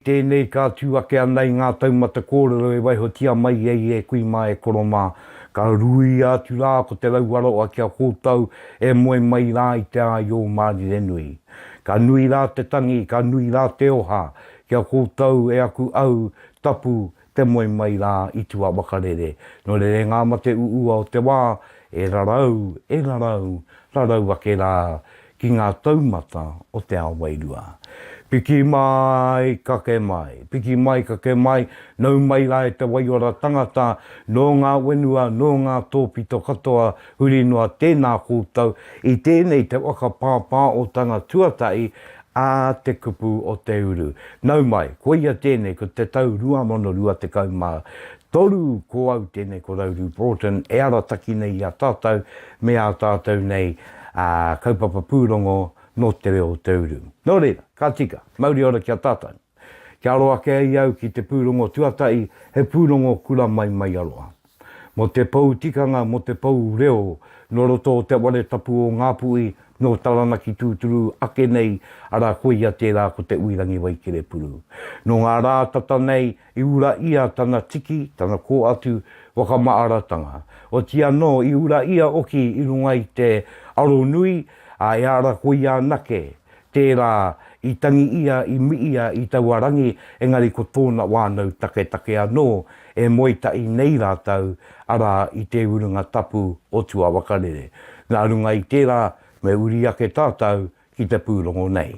Tēnei ka tū ake ana i ngā taumata kōrero e waihotia mai ai e kui mā, e koro mā. Ka ruia atu rā ko Te Rauaroa ki a koutou e moe mai rā i te āio mārire nui. Ka nui rā te tangi, ka nui rā te oha ki a koutou e aku au, tapu, Te moe mai rā i tua wakarere. Nō rerenga ma te uua o te wā, e rarau, e rarau, rarau ake rā ki ngā taumata o te ao wairua. Piki mai, kake mai, piki mai, kake mai, nau mai rā e te waiora tangata, nō ngā wenua, nō ngā tōpito katoa, huri noa tēnā koutou i tēnei te waka pāpāotanga tuatahi Ā te kupu o te uru. Nau mai, koia tēnei ko te tau 2023 ko au tēnei ko Rauru Broughton e arataki nei i a tātou me ā tātou nei kaupapa pūrongo nō te reo o te uru. Nō reira, ka tika, mauri ora ki a tātou. Kia aro ake ai au ki te pūrongo tuatahi, he pūrongo kura mai mai aroha. Mō te pou tikanga, mō te pou reo, nō roto o Te Whare Tapu o Ngāpuhi, nō Taranaki tūturu ake nei, arā koia tērā ko Te Uirangi Wai Kerepuru. Nō ngā rā tata nei i ura ia tana tiki, tana kō atu whakamaaratanga. Oti anō i ura ia oki i runga i te aro nui, ā, e ara koia anake Tērā i tangi ia i Miia i taua rangi, engari ko tōna wānau taketake anō e moe tahi nei rātou, arā, i te urunga tapu o tuawakarere. Nā runga i tērā, me uri ake tātou ki te pūrongo nei.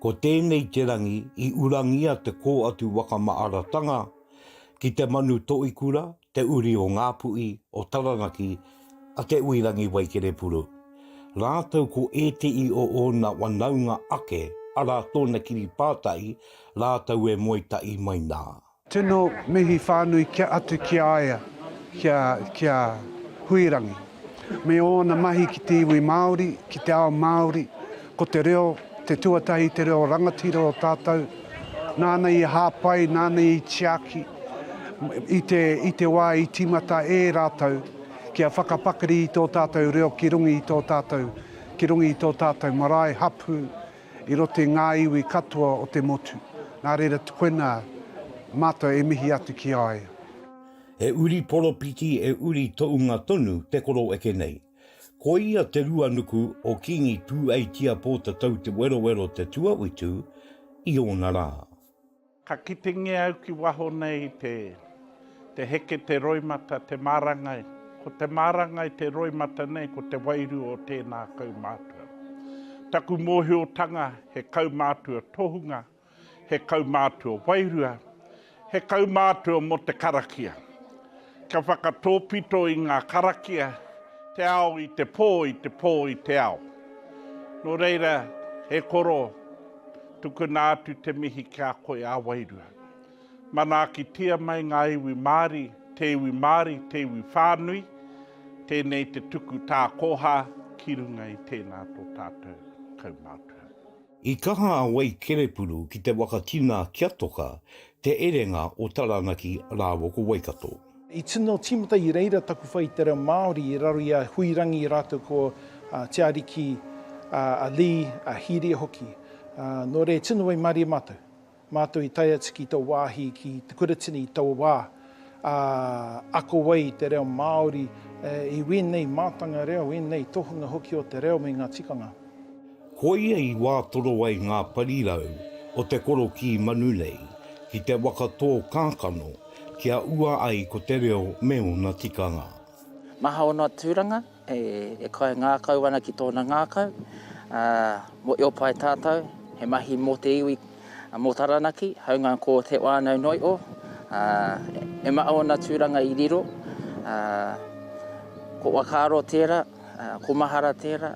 Ko tēnei te rangi i urangia te kō atu wakamaaratanga ki te manu toikura, te uri o Ngāpuhi, o Taranaki, a Te Uirangi Waikerepuru. Rātou ko ētehi o ōna wanaunga ake, arā tōna kiri pātai, rātou e moe tahi mai nā. Tino mihi whānui kia atu ki a ia, kia, kia Huirangi. Me ōna mahi ki te iwi Māori, ki te ao Māori, ko te reo, te tuatahi te reo rangatira o tātou, nāna i hāpai, nāna i tiaki, i te, i te wā i tīmata e rātou, kia whakapakari i tō tātou reo ki runga i tō tātou, ki runga i tō tātou marae, hapū, I roto i ngā iwi katoa o te motu. Nā reira tukuina Mātou e mihi atu ki a ia. He uri poropiti e uri tounga tonu te koro eke nei. Ko ia te ruanuku o Kingi Tūeitia Pōtatau Te Werowero Te Tuawitu i ōna rā. Ka kitengia au ki waho nei te te heke te roimata te marangai ko te marangai te roimata nei ko te wairua o tēnā kaumātua. Taku mōhiotanga he kaumātua tohunga, he kaumātua wairua, he kaumātua mō te karakia. Ka whakatōpito i ngā karakia te ao i te pō, i te pō i te ao. Nō reira, e koro, tukuna atu te mihi ki a koe a wairua. Manaakitia mai ngā iwi Māori, te iwi Māori, te iwi whānui, tēnei te tuku tākoha ki runga i tēnā tō tātou kaumātua. I kaha a Wei Kerepuru ki te waka tina kia toka Te Erenga o Taranaki rāua ko Waikato. I tino tīmata i reira taku whai i te reo Māori i raro i a Huirangi rātou ko Te Ariki, a Lee, a Hīria hoki. Nō reira, e tino waimarie mātou. Mātou i tae atu ki tō wāhi ki Te Kuratini i taua wā, ā, ako ai i te reo Māori, i wēnei mātanga reo, wēnei tohunga hoki o te reo me ngā tikanga. Koia i wātoro ai ngā parirau o te korokī manu nei ki te waka tō kākano kia ua ai ko te reo me ōna tikanga. Maha o noa tūranga, E kai ngākau ana ki tōna ngākau. Mo Eopae tātou, he mahi mō te iwi, mō Taranaki, haunga ko Te Wānau Noi'o. E maha ōna tūranga i riro, ko Wakaaro tērā, ko Mahara tērā.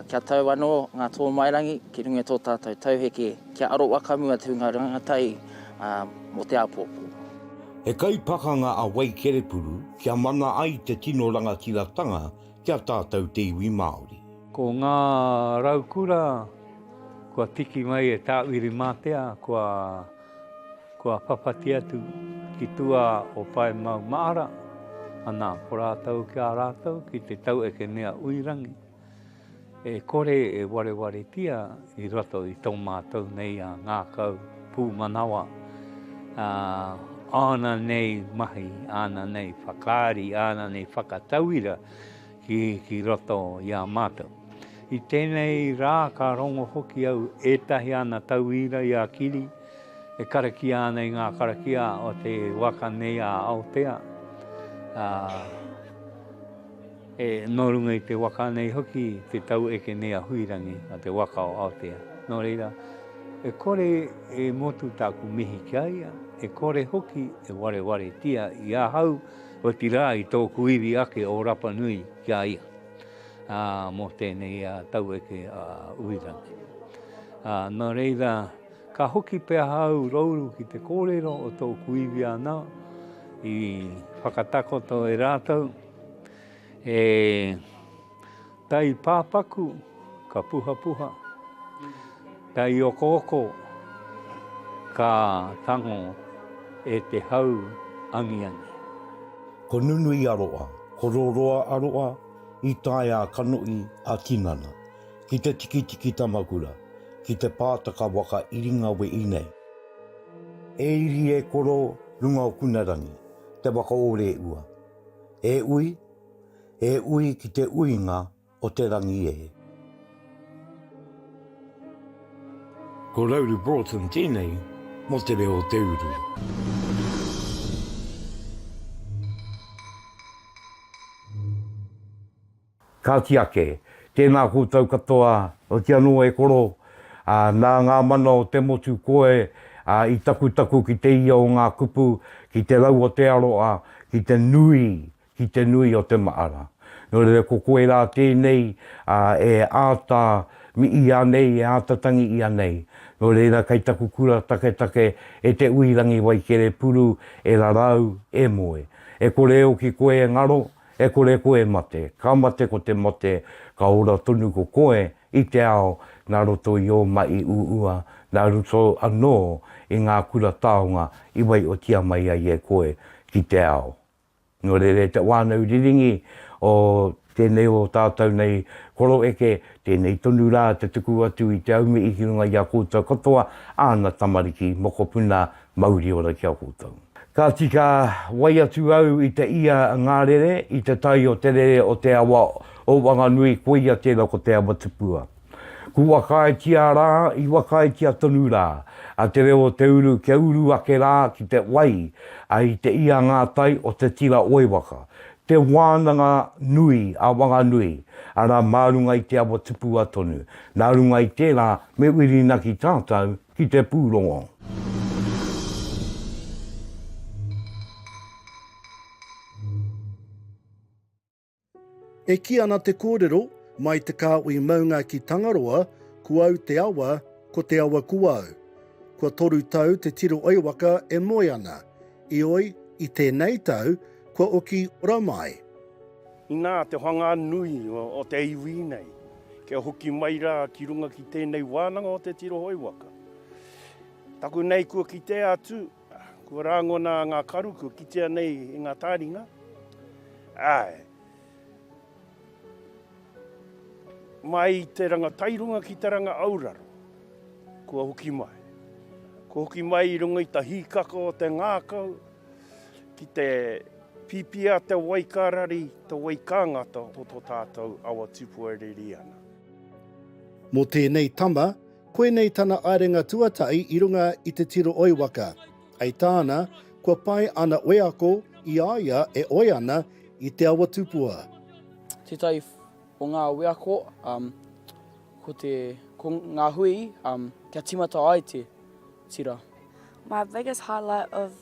Kia tau anō ngā tōmairangi ki runga i tō tātou tauheke kia aro wakamu atu ngā rangatahi mō te āpōpō. He kaipakanga a Wai Kerepuru kia mana ai te tino rangatiratanga ki a tātou te iwi Māori. Ko ngā raukura kua tiki mai e Tāwiri Matea kua. Kua whawhati atu ki tua o Pae Mau Maara, ana ko rātou ki a rātou ki te tau eke mea uirangi, e kore e warewaretia i roto i tō mātou nei a ngākau pūmanawa, āna nei mahi, āna nei whakaari, āna nei whakatauira, Ki, ki roto i a mātou. I tēnei rā ka rongo hoki au ētahi ana tauira i a Kiri e karakia ana i ngā karakia o te waka nei a Aotea, ā, e, nō runga i te waka nei hoki te tau eke nei a Huirangi, a te waka o Aotea. Nō reira, e kore e motu tāku mihi ki a ia, e kore hoki e warewaretia i ahau, Otirā i tōku iwi ake o Rapa Nui ki a ia mō tēnei taueke a Uirangi. Nō reira, ka hoki pea au rouru ki te kōrero o tōku iwi anō i whakatakoto e rātou e Taipāpaku, ka puhapuha. Taiokooko, ka tango e te hau angiangi. Ko nunui a roa, ko roroa a roa, i tae a Kanohi, a Tinana, ki te tikitiki tamakura, ki te pātaka waka Iringawehi nei. E iri e koro, runga o Kunarangi, te waka o Reua. E ui, E ui ki te uinga o te rangi e. Ko Rauru Broughton tēnei mō te reo o te uru. Kāti ake, tēnā koutou katoa, oti anō e koro, ā, nā ngā mana o te motu koe, ā, i takutaku ki te ia o ngā kupu, ki te rau o te aroha, ki te nui, ki te nui o te mahara. Nō reira ko koe rā tēnei e āta mii ia nei, e āta tangi ia nei. Nō reira kei taku kura taketake e Te Uirangi Waikerepuru e rarau, e moe. E kore e oki koe e ngaro, e kore koe e mate, ka mate ko te mate, ka ora tonu ko koe i te ao nā roto i ō mahi uua, nā roto anō i ngā kura taonga i waiotia mai ai e koe ki te ao. Nō reira e te whānau riringi o tēnei o tātou nei koro eke, tēnei tonu rā te tuku atu i te aumihi ki runga i a koutou katoa, āna tamariki, mokopuna, mauri ora ki a koutou. Ka tika wai atu au i te ia ngā rere, i te tai o te rere o te awa o Wanganui, koia tērā ko Te Awatupua. Ku whakaaetia rā, i whakaaetia tonu rā, a te reo o te uru kia uru ake rā ki te wai, a i te ia ngā tai o te tira oi waka, te wānanga nui a Wanganui, arā mā runga i te awa tupua tonu, nā runga i tērā me Whirinaki tātou ki te pūrongo. E kī ana te kōrero, mai te kāhui maunga ki Tangaroa, ko au te awa, ko te awa ko au. Kua toru tau te tiro oi waka e moe ana, ioi, i tēnei tau, kua oki ora mai. Inā te whanga nui o te iwi nei, kia hoki mai rā ki runga ki tēnei wānanga o te tiro oi waka. Taku nei kua kitea atu, Kua rāngona ngā karu kua kitea nei i ngā tāringa, āe. Mai i te ranga tairunga ki te ranga auraro, kua hoki mai. Kua hoki mai i runga i ta hīkaka o te ngākau, ki te pīpīa te wai ka rari, te wai ka ngata o tō tātou awa tūpuereri ana. Mō tēnei tama, Koinei tana aerenga tuatahi i runga i te tiro oi waka. Hei tāna, kua pai ana wheako i a ia e oi ana i te awa tupua. Tētahi o ngā wheako ko te, ko ngā hui kia tīmata ai te tira. My biggest highlight of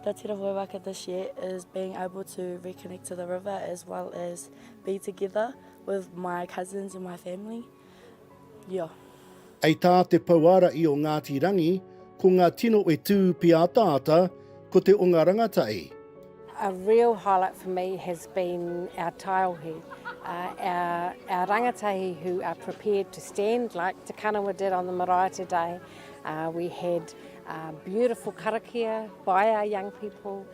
the tiro oi waka this year is being able to reconnect to the river as well as be together with my cousins and my family. Ia. Hei tā te Pouārahi o Ngāti Rangi, ko ngā tino e tū pīataata, ko te o ngā rangatahi. A real highlight for me has been our taiohi, our rangatahi who are prepared to stand like Te Kanawa did on the marae today. We had beautiful karakia by our young people,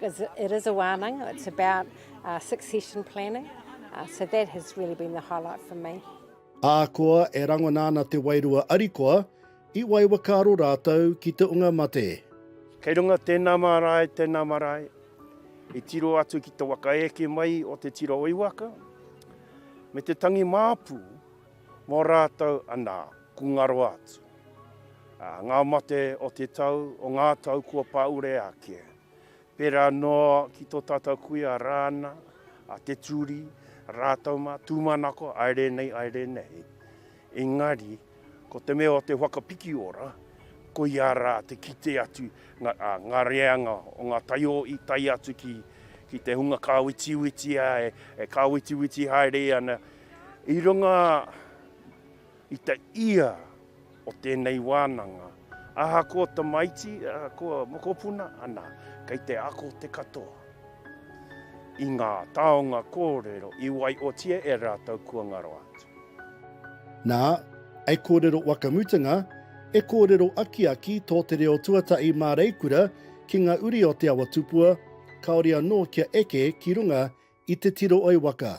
It is a wānanga, it's about succession planning, so that has really been the highlight for me. Ahakoa e rangona ana te wairua arikoa, i waiwaka aro rātou ki te unga mate. Kei runga tēnā mārae, tēnā marae, i tiro atu ki te waka eke mai o te tira o Iwaka, me te tangi māpu mō rātou anā. Ko nga roa atu a nga mate o te tau, o nga tau kua paure ake, pera noa ki to tatou kuia Rana, a Te Turi, ratou ma Tumanako, ae re nei, ae re nei. Engari, ko te mea o te whakapiki ora, koia ra te kite atu a nga reanga o nga taioi tae atu ki ki te hunga ka witiwiti ai, e ka witiwiti haere ana i runga. I te ia o tēnei wānanga, ahakoa tamaiti, ahakoa mokopuna, anā, kei te ako te katoa i ngā taonga kōrero i waiotia e rātou kua ngaro atu. Nā, hei kōrero wakamutunga, e kōrero akiaki tō te reo tuatahi māreikura ki ngā uri o Te Awa Tupua, kāore anō kia eke ki runga i te tiro oi waka.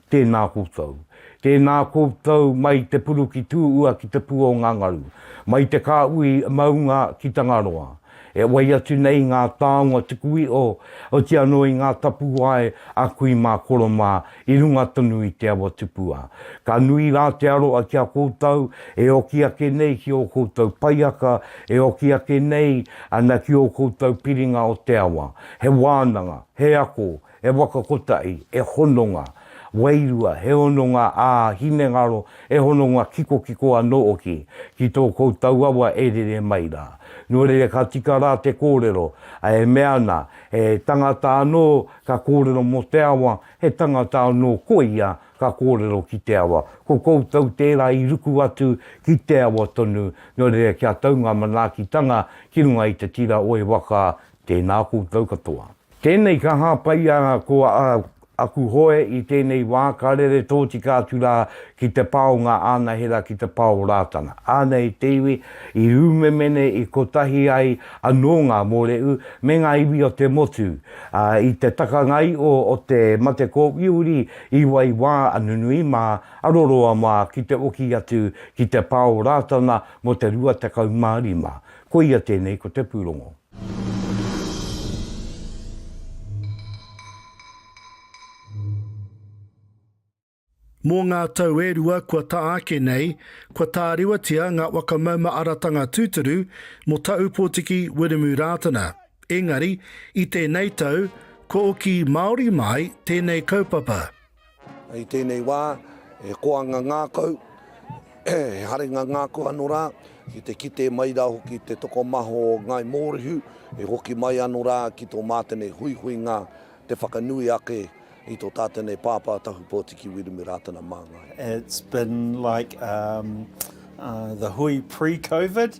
Tēnā koutou. Tēnā koutou mai te puru ki Tūua ki te pū o ngā ngaru, mai te kāhui maunga ki Tangaroa. E wai atu nei ngā taonga tuku iho, oti anō i ngā tapuwae a kui mā koro mā i runga tonu i te awa tupua. Ka nui rā te aroha ki a koutou e oki ake nei ki ō koutou paiaka, e oki ake nei ana ki ō koutou piringa o te awa. He wānanga, he ako, He waka kotahi, he hononga wairua, he hononga ā hinengaro, he hononga kikokiko anō hoki ki tō koutou awa e rere mai rā. Nō reira ka tika rā te kōrero, ā, e mea ana, he tangata anō ka kōrero mō te awa, he tangata anō koia ka kōrero ki te awa. Ko koutou tērā i ruku atu ki te awa tonu, nō reira kia tau ngā manaakitanga ki runga i te tira o e waka Tēnā koutou katoa. Tēnei ka hāpaia ko aku hoe i tēnei wā, ka rere tōtika atu rā ki te pā o ngā anahera ki te pā o Rātana. Anei te iwi i umemene i kotahi ai anō ngā mōrehu me ngā iwi o te motu, ā, i te takangaio o te mate kōwiriwiri i wai wā a nunui mā, a roroa mā ki te oki atu ki te pā o Rātana mō te rua tekau mā rima. Koia tēnei ko te pūrongo. Mō ngā tau e rua kua taha ake nei, kua tārewatia ngā whakamaumaeratanga tūturu mō Taupōtiki Wiremu Rātana. Engari, i tēnei tau, kua oki māori māi tēnei kaupapa. I tēnei wā, he koanga ngākau, he haringa ngākau anō rā, ki te kite mai rā hoki i te tokomaha o Ngāi Mōrehu, e hoki mai anō rā ki tō mātene huihuinga te whakanui ake i tō tātene pāpā Tahupōtiki Wiremu Rātana Māngai. It's been like the hui pre-Covid,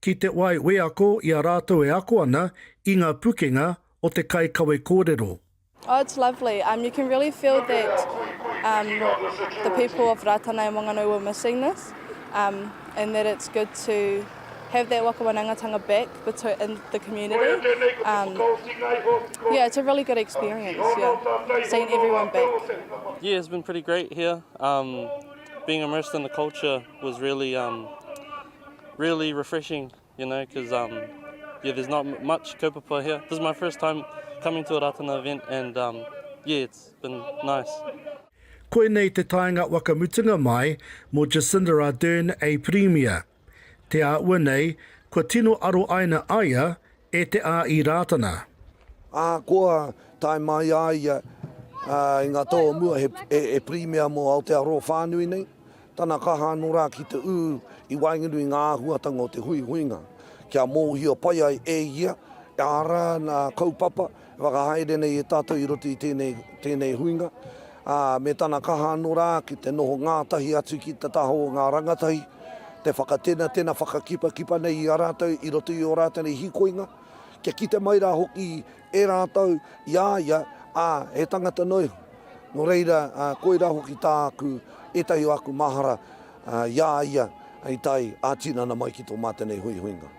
Ki te wai wheako i a rātou e ako ana i ngā pukenga o te kai kawe kōrero. Oh it's lovely, um you can really feel that um the people of Rātana and Wanganui were missing this um and that it's good to have that waka wanaungatanga back between in the community um yeah it's a really good experience yeah seeing everyone back. Yeah it's been pretty great here um being immersed in the culture was really um Really refreshing, you know, because um, yeah, there's not much kaupapa here. This is my first time coming to a Ratana event and um, yeah, it's been nice. Koinei te taenga wakamutunga mai mo Jacinda Ardern a Pirimia. Te a ua nei, kua tino aro aina aia E te a i Rātana. Ahakoa tae mai a ia i ngā tau o mua he Pirimia mō Aotearoa whānui nei, tana kaha anō rā ki te ū i waenganui i ngā āhuatanga o te huihuinga kia mōhio pai ai e ia, arā, ngā kaupapa Whakahaere nei e tātou i roto i tēnei, tēnei huinga, ā, me tana kaha anō rā ki te noho ngātahi atu ki te taha o ngā rangatahi, te whakatenatena, whakakipakipa nei i a rātou i roto i ō rātou nei hīkoinga, kia kite mai rā hoki e rātou i a ia, ā, he tangata noa iho. Nō reira, ā, koirā hoki tāku, ētahi o aku mahara, ā, i a ia i tae ā-tinana mai ki tō mātou nei huihuinga.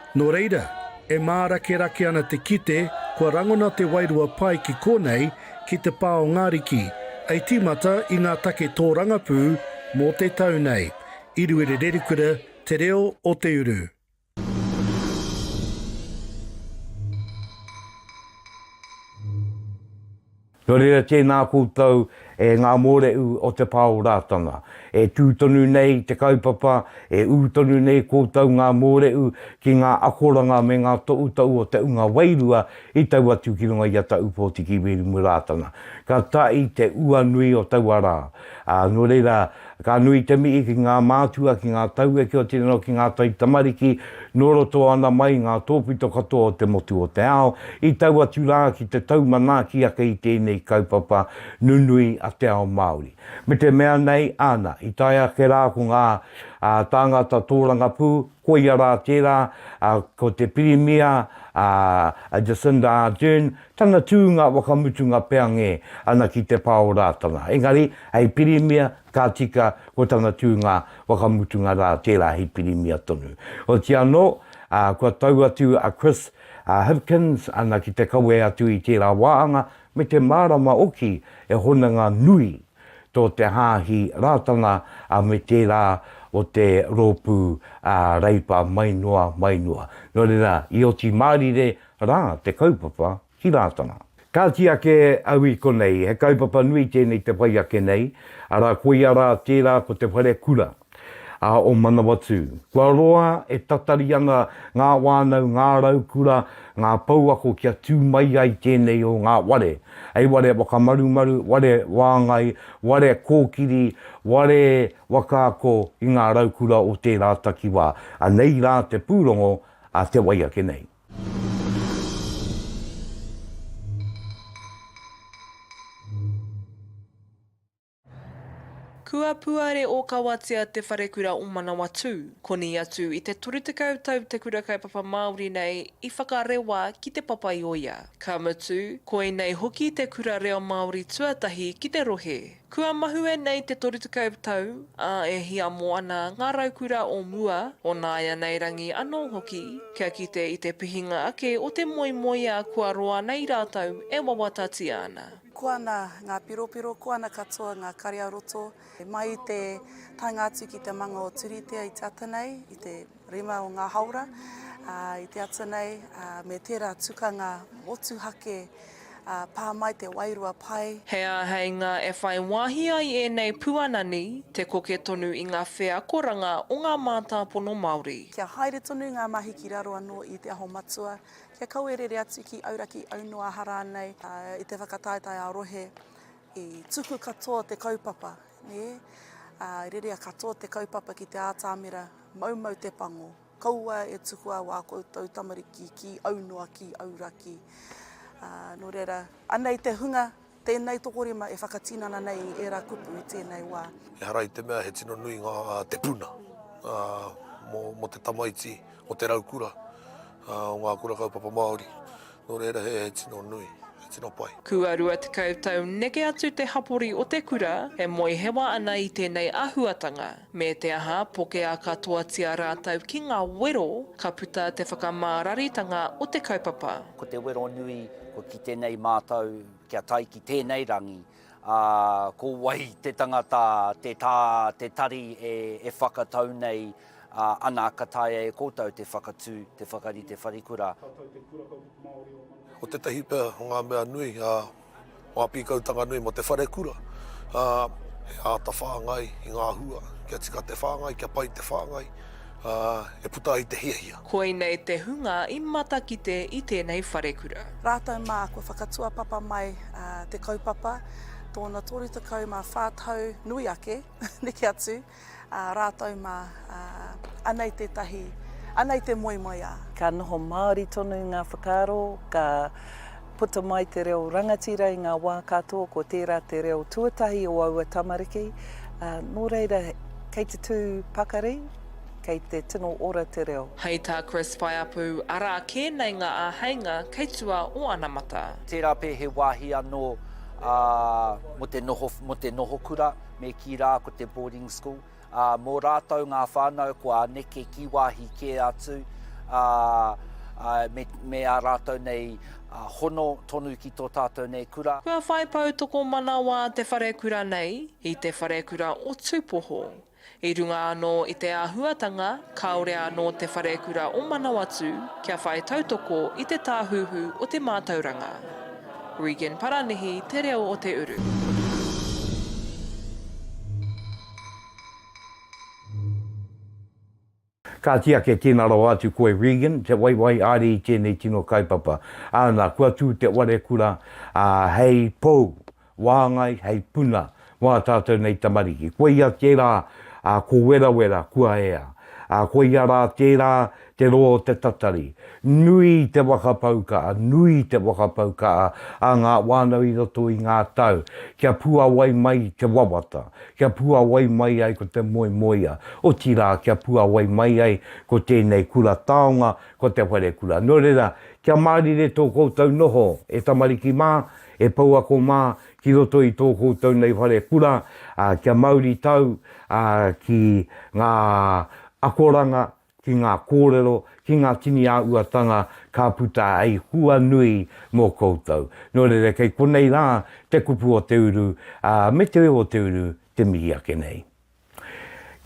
Nō reira, e mārakerake ana te kite kua rangona te wairua pai ki konei, ki te pā o Ngariki, hei tīmata i ngā take tōrangapū mō te tau nei. Iruere Rerikura, Te Reo o te Uru. Nō reira tēnā koutou e ngā mōrehu o te pā o Rātana, e tū tonu nei te kaupapa, e ū tonu nei koutou ngā mōrehu ki ngā akoranga me ngā toʻutau o te unga wairua i tau atu ki runga i a Taʻu Pōtiki Wirimu Rātana. Ka taʻi te ua nui o taua rā, ā, nō reira, Ka nui te mihi ki ngā mātua, ki ngā tauwheke o te reo, ki ngā taitamariki, nō roto ana mai i ngā tōpito katoa o te motu o te ao, i tau atu rā ki te tau manaaki ake i tēnei kaupapa nunui a te ao Māori. Me te mea nei, āna, i tae ake rā ko ngā tāngata tōrangapū, koia rā tērā, ko te Pirimia, a Jacinda Ardern, Tana tūnga whakamutunga peange ana ki te pā o Rātana, engari hei pirimia, ka tika ko tana tūnga whakamutunga rā tērā hei pirimia tonu. Otiia anō, ā, kua tau atu a Chris Hipkins ana ki te kawe atu i tērā wāhanga me te mārama hoki he hononga nui tō te Hāhi Rātana me tērā o te Rōpū Reipa mai noa, mai noa. Nō reira, i oti mārire Rā te kaupapa ki Rātana. Kāti ake au i konei, he kaupapa nui tēnei te whai ake nei, arā koia rā tērā ko te whare kura ā o Manawatū. Kua roa e tatari ana ngā wānau, ngā raukura, ngā pouako kia tū mai ai tēnei o ngā ware, hei ware whakamarumaru, ware wāngai, ware kōkiri, ware waka ako i ngā raukura o tērā takiwā. Anei rā te pūrongo a te wai ake nei. Kua puare ōkawatia te wharekura o Manawatū. Koni atu i te toru tekau tau te kura kaupapa Māori nei i whakarewa ki Te Papaioia. Ka mutu, koinei hoki te kura reo Māori tuatahi ki te rohe. Kua mahue nei te toru tekau tau, ā, e hiamo ana ngā raukura o mua, o nāianei rangi anō hoki, kia kite i te pihinga ake o te moemoeā kua roa nei rātou e wawatatia ana. Koana ngā piropiro, koana katoa ngā kare-a-roto, mai i te taenga atu ki te manga o Turitea i te ata nei, i te. Rima o ngā haora i te ata nei me tērā tukanga motuhake pā mai te wairua pai. He āheinga e whai wāhi ai ēnei puanani te koke tonu i ngā wheakoranga o ngā mātāpono Māori. Kia haere tonu ngā mahi ki raro anō i Te Aho Matua, kia kaua e rere atu ki Auraki, Aunoaha rānei i te whakataetae ā-rohe i tuku katoa te kaupapa, nē, rere katoa te kaupapa ki te ātamira Maumau te pango, kaua e tukua wā koutou tamariki ki aunoa, ki auraki. Nō reira, anei te hunga, tēnei tokorima e whakatinana nei i ērā kupu i tēnei wā. Ehara i te mea he tino nui ngā te puna mō te tamaiti o te raukura o ngā kura kaupapa Māori. Nō reira he tino nui, he tino pai. Kua 20 tau neke atu te hapori o te kura e moehewa ana i tēnei āhuatanga. Me te aha, pokea katoatia rātou ki ngā wero, ka puta te whakamāraritanga o te kaupapa. Ko te wero nui, kua kite nei mātou kia tae ki tēnei rangi, ā, ko wai te tangata, te tā, te tari e whakatau nei. Ā, ana, ka taea e koutou te whakatū, te whakarite wharekura. Ka tau te Kura Kaupapa Māori o Manukau. Ko tētahi pea o ngā mea nui, ā, ngā pīkautanga nui mō te wharekura, ā, he āta whāngai i ngā hua, kia tika te whāngai, kia pai te whāngai, ā, e puta ai te hiahia. Koinei te hunga i matakite i tēnei wharekura. Rātou mā, kua whakatuapapa mai te kaupapa tōna 34 tau nui ake, neke atu. Ā rātou mā, ā, anei tētahi, anei te moemoeā. Ā. Ka noho māori tonu ngā whakaaro, ka puta mai te reo rangatira i ngā wā katoa, ko tērā te reo tuatahi o aua tamariki, ā, nō reira, kei te tū pakari, kei te tino ora te reo. Hei tā Chris Paeapu, arā kē nei ngā āheinga kei tua o anamata. Tērā pea he wāhi anō, ā, mō te noho, mō te noho kura. me kī rā ko te boarding school, ā, mō rātou ngā whānau kua neke ki wāhi kē atu, ā, ā, me, me ā rātou nei ā, hono tonu ki tō tātou nei kura. Kua whai poutokomanawa te wharekura nei i te wharekura o Tūpoho. I runga anō i te āhuatanga, kāore anō te wharekura o Manawatū kia whai tautoko i te Tāhuhu o te Mātauranga. Regan Paranihi te reo o te uru. Kāti ake tēnā rawa atu koe Regan, te waiwai āre i tēnei tino kaupapa. Āna, kua tū te ware kura, ā, hei pou, wāngai, hei puna, Mā tātou nei tamariki. Koia tērā ko Werawera kua ea. Koia rā tērā te roa o te tatari. Nui te whakapau kaha, nui te whakapau kaha a ngā whānau i roto i ngā tau kia puawai mai te wawata, kia puawai mai ai ko te moemoeā, otirā kia puawai mai ai ko tēnei kura taonga, ko te wharekura. Nō reira, kia mārire tō koutou noho e tamariki mā, e pouako mā, ki roto i tō koutou nei whare kura, ā, kia mauritau, ā, ki ngā akoranga, ki ngā kōrero, ki ngā tini āhuatanga ka puta hei hua nui mō koutou. Nō reira, kei konei rā te kupu o te uru, ā, me te reo o te uru te mihi ake nei.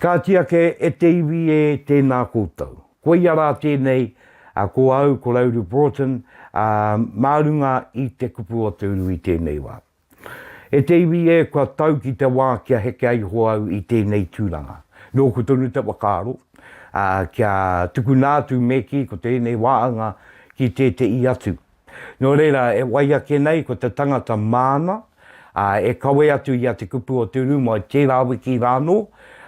Kāti ake e te iwi e tēnā koutou. Koia rā tēnei, ko au, ko Rauru Broughton, ā, mā runga i te kupu o te uru i tēnei wā. E te iwi e, kua tau ki te wā kia heke ai iho au i tēnei tūranga. Nōku tonu te whakaaro, ā, kia tukuna atu me kī ko tēnei wāhanga ki tētehi atu. Nō reira, e wai ake nei ko te tangata māna, ā, e kawe atu i a Te Kupu o Te Rūma i tērā wiki rānō,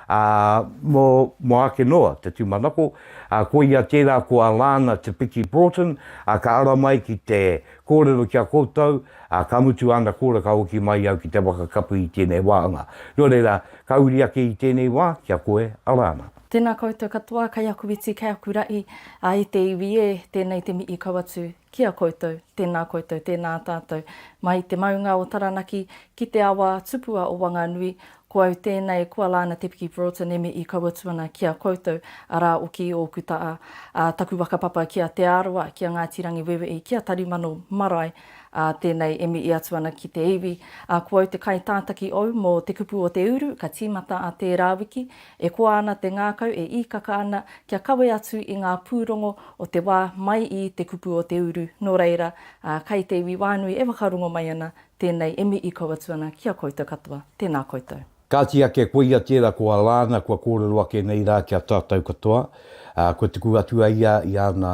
ā, mō, mō ake noa te tūmanako, ā, koia tērā ko Alana Te Piki Broughton, ā, ka ara mai ki te kōrero ki a koutou, ā, ka mutu āna kōrero ka hoki mai au ki te waka kapu i tēnei wāhanga. Nō reira, ka uri ake i tēnei wā ki a koe, Alana. Tēnā koutou katoa, kei aku iti, kei aku raʻi, ā, e te iwi ē, tēnei te mihi kau atu ki a koutou, tēnā koutou, tēnā tātou. Mai i te maunga o Taranaki, ki te awa tupua o Wanganui, ko au tēnei, ko Alana Te Piki Broughton e mihi kau atu ana ki a koutou, arā oki i ōku taʻa, ā, taku waka papa ki a Te Arawa, ki a Ngāti Rangiweweʻi, ki a Tarimano marae, ā, tēnei e mihi atu ana ki te iwi, ā, ko au te kaitātaki ou mō Te Kupu o Te Uru, ka tīmata a tērā wiki, E koa ana te ngākau e īkaka ana kia kawe atu i ngā pūrongo o te wā mai i te kupu o te uru, nō reira, ā, kai te iwi whānui e whakarongo mai ana, tēnei e mii kau atu ana ki a koutou katoa. Tēnā koutou. Kāti ake koia tērā ko Alana kua kōrero ake nei rā ki a tātou katoa, ā, kua tuku atu a ia i ana,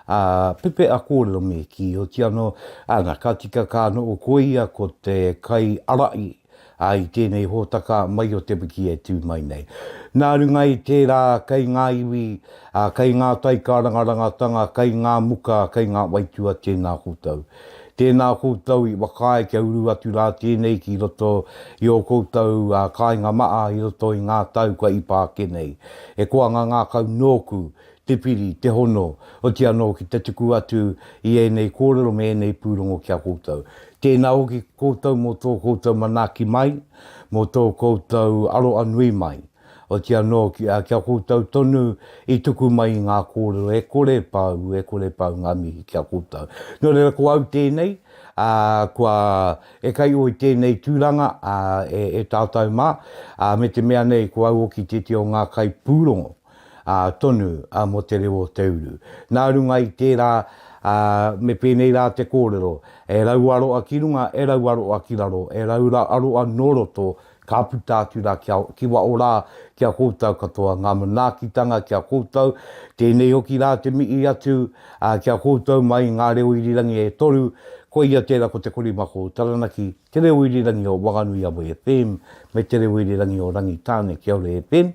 ā, pepeha kōrero me kīoti anō, ā, nā, ka tika ka noho koia ko te kai arai, ā, i tēnei hōtaka mai o te wiki e tū mai nei. Nā runga i tērā, kei ngā iwi, ā, kei ngā taikarangarangatanga, kei ngā muka, kei ngā waitua tēnā koutou. Tēnā koutou i whakaae kia uru atu rā tēnei ki roto i ō koutou kāinga maha i roto i ngā tau kua ipāke nei. He koanga ngākau nōku te piri, te hono, oti anō ki te tuku atu i ēnei kōrero me ēnei pūrongo ki a koutou. Tēnā hoki koutou mō tō koutou manaaki mai, mō tō koutou aroa nui mai, oti anō kia koutou tonu i tuku mai i ngā kōrero e kore e pau, e kore e pau ngā mihi ki a koutou. Nō reira ko au tēnei, ā, kua e kai ō i tēnei tūranga, ā, e tātou mā, ā, me te mea nei ko au hoki tētehi o ngā kaipūrongo. ā, tonu, ā, mō te reo o te uru. Nā runga i tērā, ā, me pēnei rā te kōrero, e raua roa ki runga, e raua roa ki raro, e raura roa nō roto, ka puta atu rā kia, ki waho rā, ki a koutou katoa, ngā manaakitanga ki a koutou, tēnei hoki rā te mihi atu, ā, ki a koutou mai ngā reo irirangi e toru, koia tērā ko te korimako o Taranaki, te reo irirangi o Wanganui Awa FM, me te reo irirangi o Rangitāne Kia Ora FM.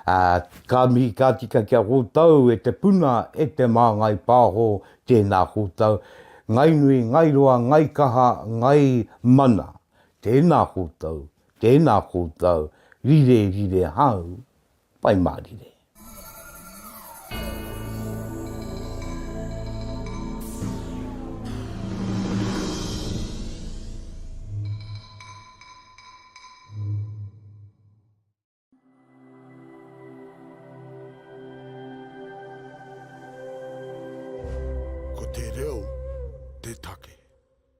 Ā, ka mihi ka tika ki a koutou e te puna, e te māngai pāho, tēnā koutou, ngai nui, ngai roa, ngai kaha, ngai mana, tēnā koutou, tēnā koutou, rire, rire hau, pai mārire. Ko te reo te take.